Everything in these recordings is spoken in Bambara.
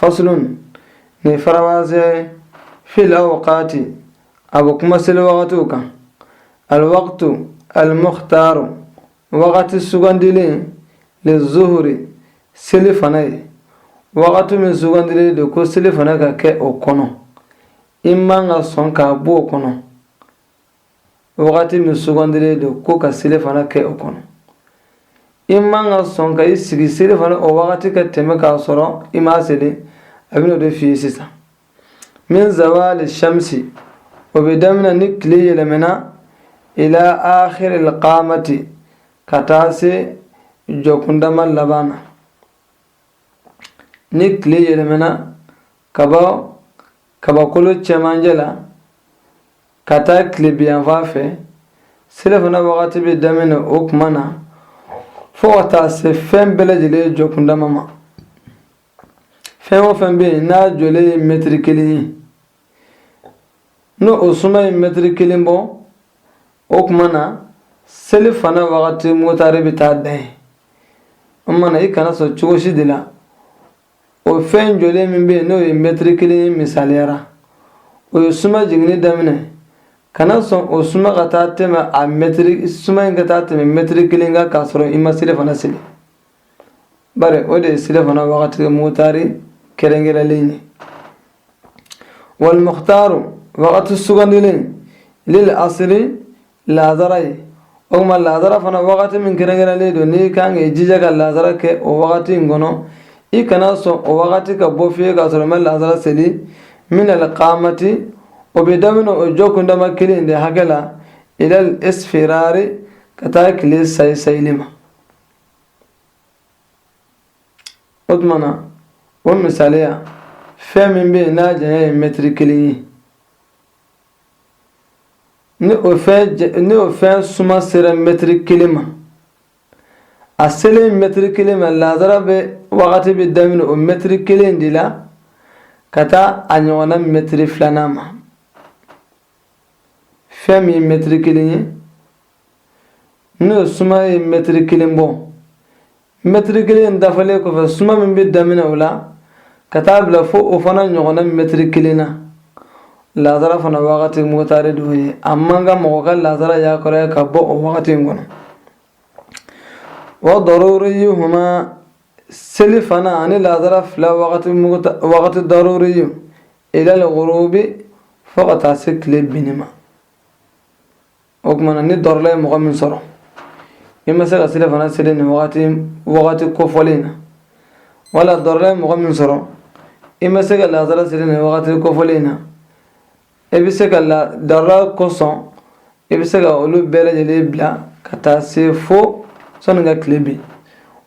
faslun nin faranfasi ye fil awqati a bɛ kuma seli wagatiw kan alwaqtu almuhtaaru wagati sugandilen lizuhuri selifana ye wagati min sugandilen de ko selifana ka kɛ o kɔnɔ i man ka sɔn k'a bɔ o kɔnɔ wagati min sugandilen don ko ka selifana kɛ o kɔnɔ i man ka sɔn ka i sigi selifana o wagati ka tɛmɛ k'a sɔrɔ i m'a seli a bɛna o de f'i ye sisan min zawali shamsi o bɛ daminɛ ni tile yɛlɛmɛna ila akhiri lqamati ka taa se jɔkundama laban na ni tile yɛlɛmɛna ka bɔ kabakolo cɛmancɛ la ka taa tilebinyanfan fɛ selifana wagati bɛ daminɛ o kuma na fo ka taa se fɛn bɛɛ lajɛlen jɔkundama ma fɛn o fɛn bɛ yen n'a jɔlen ye mɛtiri kelen ye ni o suma ye mɛtiri kelen bɔ o kuma na selifana wagati muhtaari bɛ taa dan yen o tuma na i kana sɔn cogo si de la o fɛn jɔlen min bɛ yen n'o ye mɛtiri kelen misaliya la o ye suma jiginni daminɛ kana sɔn o suma ka taa tɛmɛ a mɛtiri suma in ka taa tɛmɛ mɛtiri kelen kan k'a sɔrɔ i ma selifana seli bari o de ye selifana wagati muhtaari kɛrɛnkɛrɛnlen ye walmuhtaaru wagati sugandilen lil asiri laazara ye o tuma laazara fana wagati min kɛrɛnkɛrɛnlen don n'i ka kan k'i jija ka laazara kɛ o wagati in kɔnɔ i kana sɔn o wagati ka bɔ fiyewu k'a sɔrɔ i ma laazara seli min al qaamati o bɛ daminɛ o jɔkundama kelen in de hakɛ la ilal isfiraari ka taa tile sayi sayili ma o tuma na o misaliya fɛn min bɛ yen n'a janya ye mɛtiri kelen ye ni o fɛn ni o fɛn suma sera mɛtiri kelen ma a selen mɛtiri kelen ma lazara bɛ wagati bɛ daminɛ o mɛtiri kelen de la ka taa a ɲɔgɔnna mɛtiri filanan ma fɛn min ye mɛtiri kelen ye n'o suma ye mɛtiri kelen bɔ mɛtiri kelen dafalen kɔfɛ suma min bɛ daminɛ o la ka taa bila fo o fana ɲɔgɔnna mɛtiri kelen na lazara fana wagati muhtaari d'o ye a man kan mɔgɔ ka lazara yakɔrɔ ka bɔ o wagati in kɔnɔ wa daruriyihuma selifana ani lazara fila wagati muhta wagati daruriyi ilal guruubi fo ka taa se tile binni ma o kuma na ni dɔrɔla ye mɔgɔ min sɔrɔ i ma se ka selifana seli nin wagati wagati kofɔlen na wala dɔrɔla ye mɔgɔ min sɔrɔ i ma se ka lazara seli nin wagati kofɔlen na i bɛ se ka la dɔrɔla kosɔn i bɛ se ka olu bɛɛ lajɛlen bila ka taa se fo sɔnni ka tile bin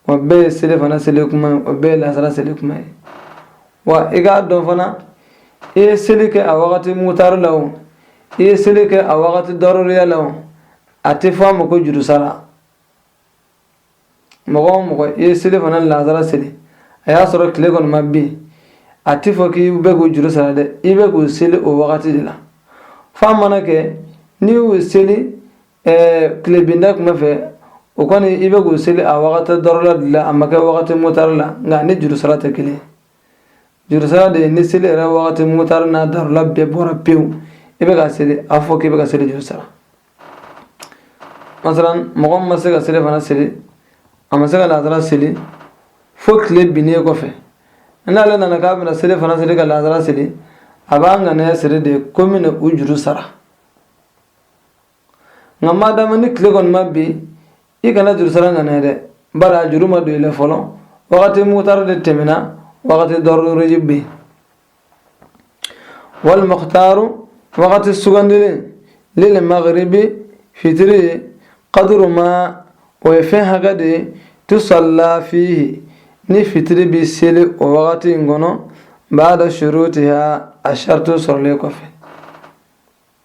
o bɛɛ ye selifana seli kuma ye o bɛɛ ye lazara seli kuma ye wa i k'a dɔn fana i ye seli kɛ a wagati mutari la o i ye seli kɛ a wagati daruriya la o a tɛ fɔ a ma ko jurusara mɔgɔ o mɔgɔ i ye selifana lazara seli a y'a sɔrɔ tile kɔni ma bin a tɛ fɔ k'i bɛ k'o juru sara dɛ i bɛ k'o seli o wagati de la f'a mana kɛ n'i y'o seli ɛɛ tilebinda kuma fɛ o kɔni i bɛ k'o seli a wagati dɔrɔla de la a ma kɛ wagati mutari la nka a ni jurusara tɛ kelen jurusara de ye ni seli yɛrɛ wagati mutari n'a darula bɛɛ bɔra pewu i bɛ ka seli a fɔ k'i bɛ ka seli juru sara masalan mɔgɔ min ma se ka selifana seli a ma se ka lazara seli fo tile binnen kɔfɛ n'ale nana k'a bɛna selifana seli ka lazara seli a b'a ŋaniya siri de ko n bɛna u juru sara nka madama ni tile kɔni ma bin i kana jurusara ŋaniya dɛ bari a juru ma don i la fɔlɔ wagati mutari de tɛmɛna wagati daruri bɛ yen walimukutaru wagati sugandilen lilmagaribi fitiri ye kaduru ma o ye fɛn hakɛ de ye tusalla fihi ni fitiri bɛ seli o wagati in kɔnɔ bada shurutiha a shartuw sɔrɔlen kɔfɛ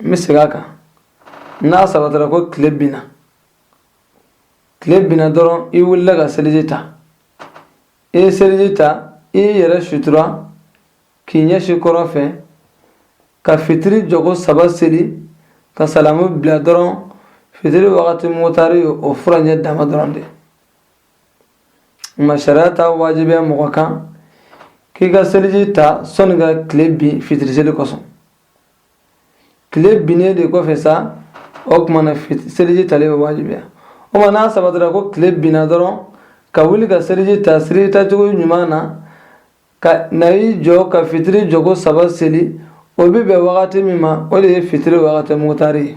n bɛ segin a kan n'a sabatara ko tile binna tile binna dɔrɔn i wulila ka seliji ta i ye seliji ta i y'i yɛrɛ sutura k'i ɲɛsin kɔrɔn fɛ ka fitiri jɔko saba seli ka salamu bila dɔrɔn fitiri wagati mutari ye o furancɛ dama dɔrɔn de ma sariya t'a wajibiya mɔgɔ kan k'i ka seliji ta sɔni ka tile bin fitiri seli kosɔn tile binnen de kɔfɛ sa o tuma na seliji talen bɛ wajibiya o ma n'a sabatira ko tile binna dɔrɔn ka wuli ka seliji ta seliji tacogo ɲuman na ka na i jɔ ka fitiri jɔko saba seli o bɛ bɛn wagati min ma o de ye fitiri wagati mugutari ye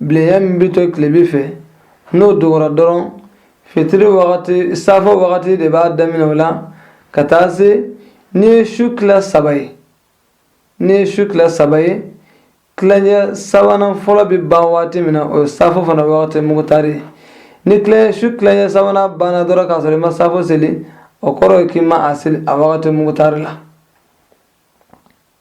bilenya min bɛ to tilebin fɛ n'o dogora dɔrɔn fitiri wagati safo wagati de b'a daminɛ o la ka taa se n'i ye su tila saba ye n'i ye su tila saba ye tilancɛ sabanan fɔlɔ bɛ ban waati min na o ye safo fana wagati mugutari ye ni tilancɛ su tilancɛ sabanan banna dɔrɔn k'a sɔrɔ i ma safo seli o kɔrɔ ye k'i ma a seli a wagati mugutari la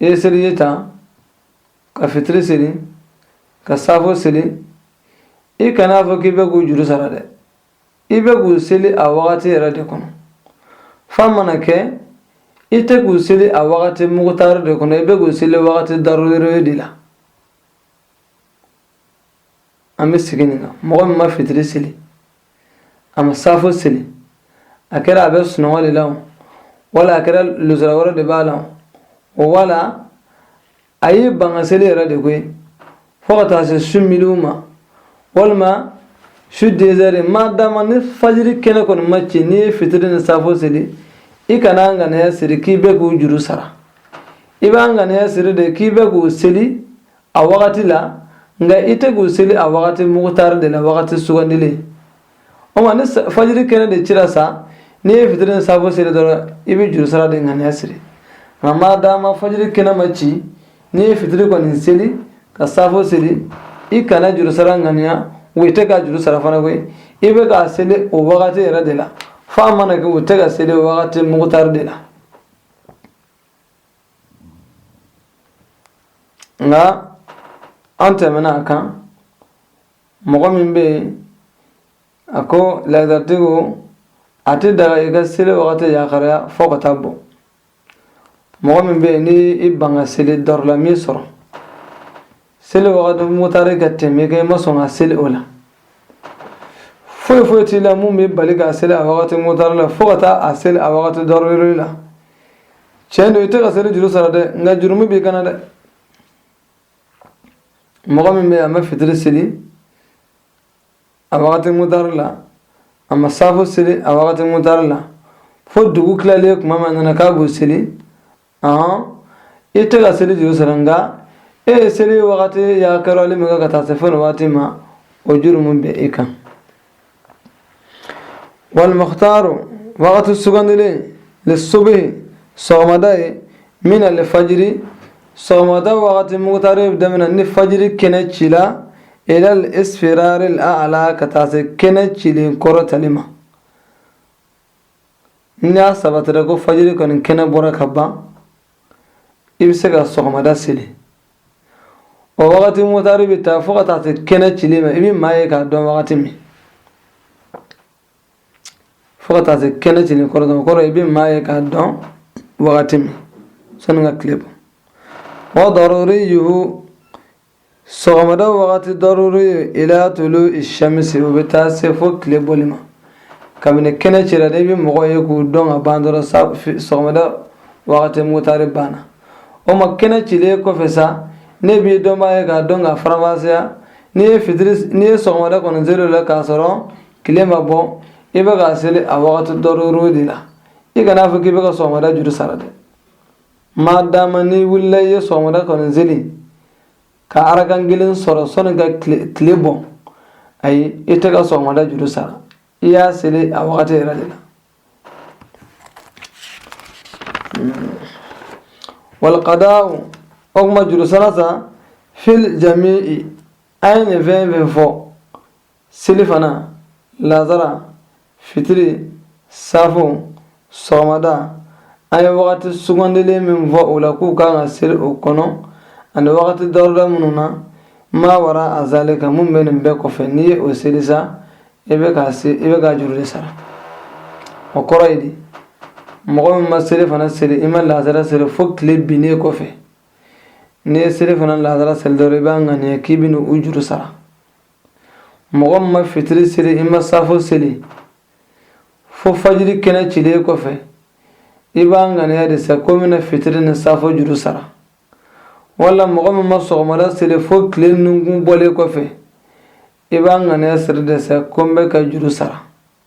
i ye seliji ta ka fitiri seli ka safo seli i kana fɔ k'i bɛ k'u juru sara dɛ i bɛ k'u seli a wagati yɛrɛ de kɔnɔ f'a mana kɛ i tɛ k'u seli a wagati mugutari de kɔnɔ i bɛ k'u seli wagati daruriyu de la an bɛ segin nin kan mɔgɔ min ma fitiri seli a ma saafo seli a kɛra a bɛ sunɔgɔ de la wala a kɛra luzuru wɛrɛ de b'a la o wala a y'i ban ka seli yɛrɛ de koyi fo ka taa se su minuwi ma walima su dezɛri ma dama ni fajiri kɛnɛ kɔni ma ci n'i ye fitiri ni saafo seli i kana ŋaniya siri k'i bɛ k'u juru sara i b'a ŋaniya siri de k'i bɛ k'u seli a wagati la nka i tɛ k'u seli a wagati mugutari de la wagati sugandilen o ma ni fajiri kɛnɛ de cira sa n'i ye fitiri ni safo seli dɔrɔn i bɛ juru sara de ŋaniya siri nka maa dama fajiri kɛnɛ ma ci n'i ye fitiri kɔni seli ka safo seli i kana juru sara ŋaniya wa i tɛ ka juru sara fana koyi i bɛ k'a seli o wagati yɛrɛ de la f'a mana kɛ i tɛ k'a seli o wagati mugutari de la nka an tɛmɛna a kan mɔgɔ min bɛ yen a ko laazaritigiw a tɛ daga i ka seli wagati yakaraya fɔ ka taa bɔ mɔgɔ min bɛ yen ni i ban ka seli darura m'i sɔrɔ seli wagati motari ka tɛmɛ kɛ i ma sɔn ka seli o la foyi foyi t'i la min b'i bali k'a seli a wagati motari la fo ka taa a seli a wagati daruriyu la tiɲɛ don i tɛ ka seli juru sara dɛ nka jurumu b'i kan dɛ mɔgɔ min bɛ yen a ma fitiri seli a wagati motari la a ma saafo seli a wagati motari la fo dugu tilalen kuma min a nana k'a b'o seli ɔn i tɛ ka seli juru sara nka e ye seli wagati yakarali min kɛ ka taa se fo nin waati ma o jurumu bɛ e kan wali mukutaru wagati sugandilen li subuhi sɔgɔmada ye minali fajiri sɔgɔmada wagati mugutari bɛ daminɛ ni fajiri kɛnɛ ci la ilal isfiraril a'la ka taa se kɛnɛ cilen kɔrɔtali ma ni a sabatira ko fajiri kɔni kɛnɛ bɔra ka ban i bɛ se ka sɔgɔmada seli o wagati motari bɛ taa fo ka taa se kɛnɛ cili ma i bɛ maa ye k'a dɔn wagati min fo ka taa se kɛnɛ cili kɔrɔ dɔn kɔrɔ i bɛ maa ye k'a dɔn wagati min sani ka tile bɔ wa daruriyuhu Sɔgɔmada wagati daruri ila tulu sɛmisi o bɛ taa se fo tile bɔli ma kabini kɛnɛ cira n'i bɛ mɔgɔw ye k'u dɔn ka ban dɔrɔn sa sɔgɔmada wagati mutari banna o ma kɛnɛ cilen kɔfɛ sa n'i b'i dɔnbaa ye k'a dɔn k'a faranfasiya n'i ye fitiri n'i ye sɔgɔmada kɔni seli la k'a sɔrɔ tile ma bɔ i bɛ ka seli a wagati daruri de la i kana fɔ k'i bɛ ka sɔgɔmada juru sara dɛ madama n'i wulila i ye sɔgɔmada kɔni seli ka araka kelen sɔrɔ sani ka tile bɔ ayi i tɛ ka sɔgɔmada juru sara i y'a seli a wagati yɛrɛ de la walqadaw o kuma juru sara sa fil jami'i an ye nin fɛn fɛn fɔ selifana lazara fitiri safo sɔgɔmada an ye wagati sugandilen min fɔ o la k'u kan ka seli o kɔnɔ ani wagati daruri minnu na ma wara a zalika min bɛ nin bɛɛ kɔfɛ n'i ye o seli sa i bɛ ka se i bɛ ka juru de sara o kɔrɔ ye di mɔgɔ min ma selifana seli i ma lazara seli fo tile binnen kɔfɛ n'i ye selifana lazara seli dɔrɔn i b'a ŋaniya k'i bɛ n'u juru sara mɔgɔ min ma fitiri seli i ma safo seli fo fajiri kɛnɛ cilen kɔfɛ i b'a ŋaniya de sa ko n bɛna fitiri ni safo juru sara wala mɔgɔ min ma sɔgɔmada seli fo tile nunkun bɔlen kɔfɛ i b'a ŋaniya siri de sa ko n bɛ ka juru sara